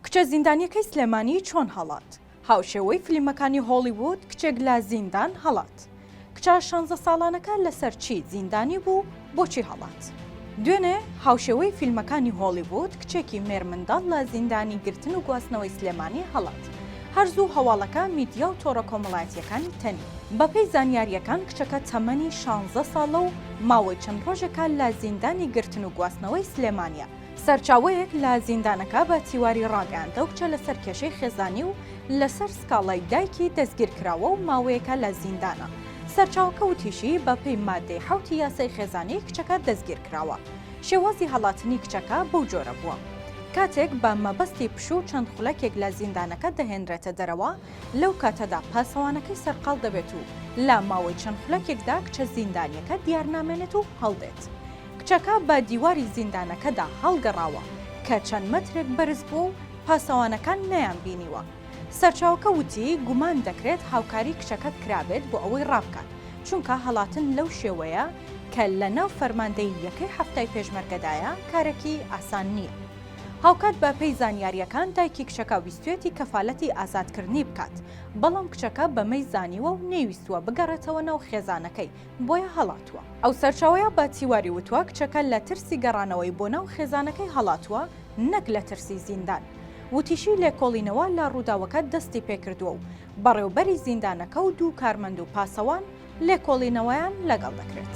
کچە زیندانیەکەی سلێمانی چۆن هەڵات؟ هاوشێوەی فلیمەکانی هۆڵیوود کچێک لە زیندان هەڵات. کچە شانزە ساڵانەکە لەسەر چی زیندانی بوو بۆچی هەڵات؟ دوێنێ هاوشێوەی فیلمەکانی هۆڵیوود کچێکی مێرمنداڵ لە زیندانی گرتن و گواستنەوەی سلێمانی هەڵات. هەر زوو هەواڵەکە میدیا و تۆڕە کۆمەڵایەتییەکانی تەنی. بەپێی زانیارییەکان کچەکە تەمەنی شانزە ساڵە و ماوەی چەند ڕۆژێکە لە زیندانی گرتن و گواستنەوەی سلێمانیە. سەرچاوەیەک لە زیندانەکە بە تیواری ڕاگەیاندئەو کچە لەسەر کێشەی خێزانی و لەسەر سکاڵای دایکی دەستگیرکراوە و ماوەیەکە لە زیندانە. سەرچاوەکە وتیشی، بەپێی ماددەی حەوتی یاسای خێزانی کچەکە دەستگیرکراوە. شێوازی هەڵاتنی کچەکە بەو جۆرە بووە. کاتێک بە مەبەستی پشوو چەند خولەکێک لە زیندانەکە دەهێنرێتە دەرەوە، لەو کاتەدا پاسەوانەکەی سەرقاڵ دەبێت و لە ماوەی چەند خولەکێکدا کچە زیندانییەکە دیارنامێنێت و هەڵدێت. کچەکە بە دیواری زیندانەکەدا هەڵگەڕاوە کە چەند مەترێک بەرز بووە و پاسەوانەکان نەیانبینیوە. سەرچاوەکە وتی، گومان دەکرێت هاوکاری کچەکە کرابێت بۆ ئەوەی ڕابکات، چونکە هەڵاتن لەو شێوەیە کە لەناو فەرماندەیی یەکەی حەفتای پێشمەرگەدایە کارێکی ئاسان نییە. هاوکات بە پێی زانیارییەکان دایکی کچەکە ویستویەتی کەفالەتی ئازادکردنی بکات، بەڵام کچەکە بەمەی زانیوە و نەیویستووە بگەڕێتەوە ناو خێزانەکەی، بۆیە هەڵاتووە. ئەو سەرچاوەیە بە تیواری وتوە کچەکە لە ترسی گەڕانەوەی بۆ ناو خێزانەکەی هەڵاتووە نەک لە ترسی زیندان. وتیشی لێکۆڵینەوە لە ڕووداوەکە دەستی پێکردووە و بەڕێوبەری زیندانەکە و دوو کارمەند و پاسەوان لێکۆڵینەوەیان لەگەڵ دەکرێت.